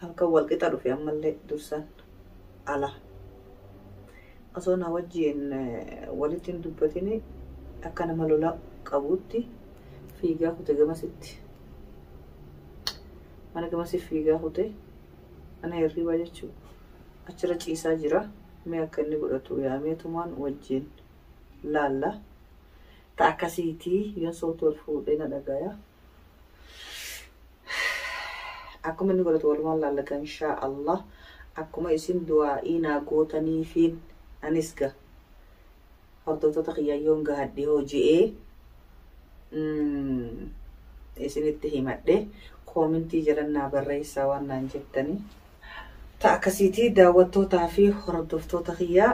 halkan wal qixa dhufe ammallee dursan ala osoo na wajjiin walitti hin dubbatini akka nama lola qabuutti fiigaa kute gamasitti mana gamasi fiigaa kute mana hirriibaa jechuu achirra ciisaa jira mee akka inni godhatu yaamee tumaan wajjiin laalla ta akkasiitii yoon soofti wal fuudhee na dhagaya Akkuma inni godhatu walumaan laallata inshaa Allah akkuma isin du'aa'ii naa gootaniifiin anis ga hordoftoota kiyyaa yoon gahadhe hoo je'ee isinitti himadhe koomintii jalan naa barreessaa waan naan jettanii ta akkasiitii daawwattootaa fi hordoftoota kiyyaa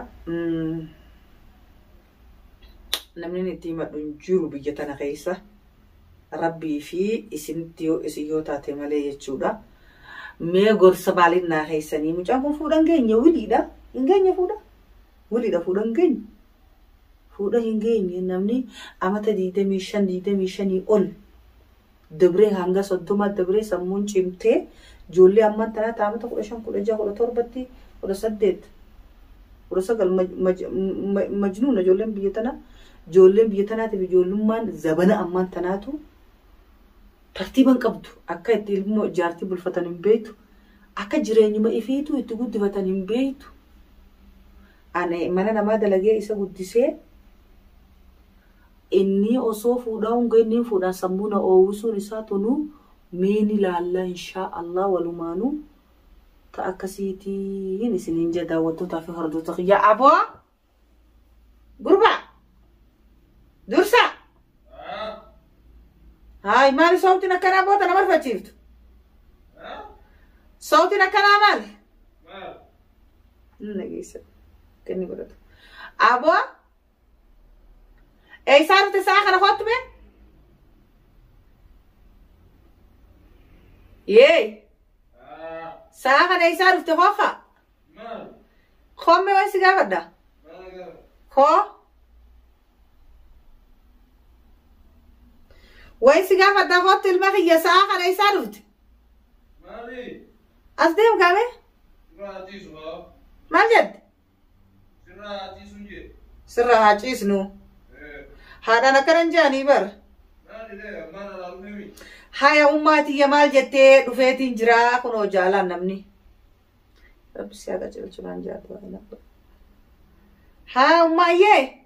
namni inni itti himadhu hin jiru biyya tana keessa rabbii fi isinitti yoo isin yoo taate malee jechuudha. Mee gorsa maaliin naa keessanii mucaan kun fuudhan geenye wiliidha hin geenye fuudha wiliidha fuudha hin geenye fuudha hin geenye namni amata digdamii shan digdamii shanii ol dabree hanga soddoma dabree sammuun cimtee ijoollee ammaan tanaa taamata kudha shan kudha jaha kudha torbatti kudha saddeet kudha sagal majnuuna ijoolleen biyya tanaa ijoolleen biyya tanaatiif ijoollummaan zabana ammaan tanaatu tartiiban qabdu akka itti ilmoo ijaartii bulfatan hin beektu akka jireenyuma ifiituu itti guddifatan hin beektu ani mana namaa dalagee isa guddisee Innii osoo fuudhaa hun gahin nin fuudhaan sammuu na oowwisuun isaa tunuu mee ni laallaa inshaa allah walumaanuu ta akkasiitiin isiniin jaa daawwattootaa fi hordoota kiyyaa aboo gurbaa dursaa haay maali sawtiin akkanaa boota na marfachiiftu sawtiin akkanaa maali hin dhageessa kenni godhatu aboo Eessaa dhufte sa'a kana kottu mee? Yee. Sa'a kana eessaa dhufte koofa? Koome waan si gaafadha? Koo? Waan si gaafadha kottu ilma kiyya sa'a kana eessaa dhufte? As deemu gaamee? Maal jette? Sirraa haa ciisun jee. Sirraa haa ciisnu. Eh, Haadhaan akkana hin jaanii bar. Maali lee ammaan alaa dhufee mi? Haya ummaa tiyya maal jettee dhufeetiin jira kunoo jaalaan namni. Rabbi si haa qajeelchu naan jaatu. Haa ummaa yee.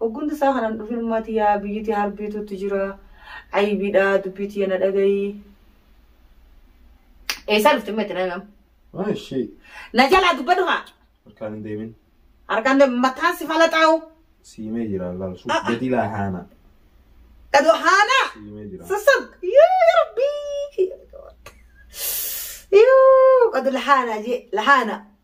Oggundi isaa kanan dhufin mati yaa biyyiti harbiitutti jira. Ayibidha dubbii tiyya na dhagayi. Eessaa dhufte mati na himam. Ah, ishee. Na jalaa dubbadhu haa. Harkaan hin deemin. Harkaan deemu mataan si falaxaa'u. Siimee jira laal. Ah, ah. Gadii laa haana. Dhadhu haanaa. Siimee jira. Sassab. Yoo yaa rabbii. Yoo qadu lahaanaa jee lahaanaa.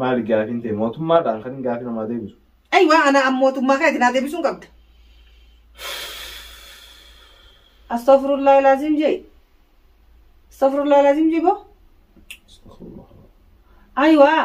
Maali gaafiin ta'e mootummaadhaan kan gaafii namaa deebisu. Ayi waa ana an mootummaa keeti naa deebisuun qabda. Astaghfirullah lazim jee. Astaghfirullah lazim jee boo. Ayi waa.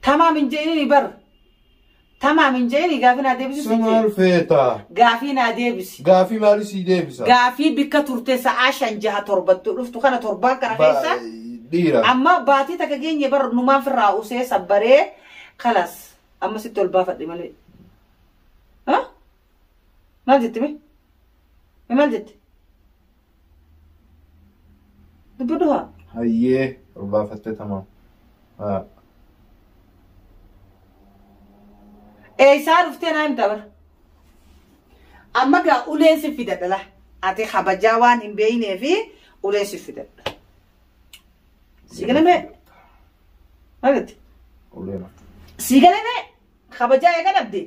Tamaam hin je'inini bar. Tamaam hin je'ini gaafii naa deebisi Si siin maal je'e. feeta? Gaafii naa deebisi. Gaafii maalii sii deebisa? Gaafii bikka turte sa'aa shan jaha torbattu dhuftu kana torbaan kana Ba- keessa Dhiira. amma baatii takka geenye bar numaan firraa usee sabbaree kalas amma sitti ol baafadhe malee. Ha? Maal jette mee? Mee Maal jette? Dubbi duha. Hayyee baafattee tamaam. Haa. Eessaa dhuftee naa himta bara. Amma gaa ulee si fidadha laa. Ati kabajaa waan hin beeknee fi ulee si fidadha. Si galamee. Maalitti? Ulee mata. Si galamee. Kabajaa eega dhabdee.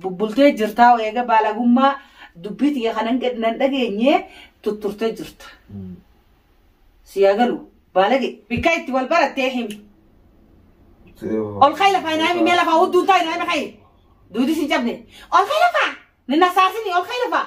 Bubbultee jirtaa eega baalagummaa dubbii tiyya kanan gad nan dhageenye tutturtee jirta. Si haa galu baalage bikka itti wal barattee himi. Ol ka'i lafaa naa himi mee lafaa hudduun taa'e naa himi ka'i. Duudi si hin cabne. Ol ka'i lafaa! Ni nasaasini ol ka'i lafaa!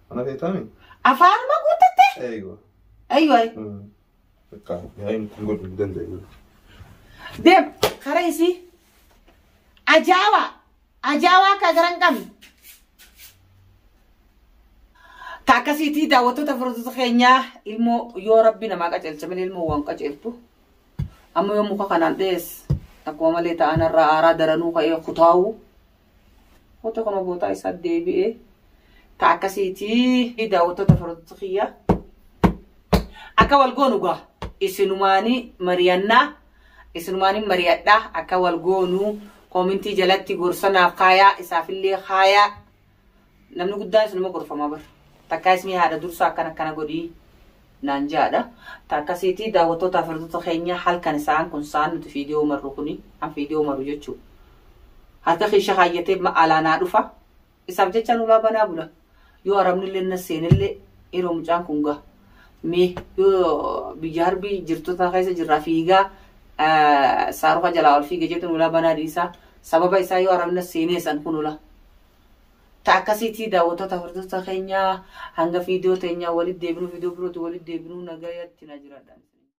Mana feetaami? Afaanuma guuttatte? Eeywa. Eeywa. Bakka yaa'iin kun godhu hin danda'u. Deem karaa isii. Ajaawaa. Ajaawaa akka garan qabne. Ka akkasiitii daawwattoota furdota keenyaa ilmoo yoo rabbi namaa qajeelcha malee ilmoo waan qajeeltu. Amma yoo muka kanaan dhees akkuma malee ta'an irraa aaraa daranuu ka'ee kutaa'uu. Hoota kun gootaa isaa deebi'ee ta akkasiitii daawwattoota firoota kiyya akka wal goonu gaa isinumaanii mari'annaa isinumaanii mari'adhaa akka wal goonu koomintii jalatti gorsanaaf kaayaa isaafillee kaayaa Namni guddaanis nama gorfama bar. Takkaa ismii haadha dursaa akkana akkana godhii naan jaadha. Takkasiitii daawwattoota firdota keenya halkan isaan kun saan nuti fiidiyoo marru kuni an fiidiyoo marru jechuudha. Harka keessa kaayyatee ma alaa naa dhufa. Isaaf jecha nulaa banaa bula. Yoo arabnillee na seenillee yeroo mucaan kun gaha. Mee yoo biyya harbii jirtota keessa jirraa fiigaa saaruka jalaa ol fiige jettu nulaa banaa dhiisaa. Sababa isaa yoo arabna seenee san kun ulaa. ta akkasiitii daawwattoota hordoftoota keenya hanga fiidiyoo teenyaa walitti deebinuu fiidiyoo birootu walitti deebinuu nagayatti na jiradha.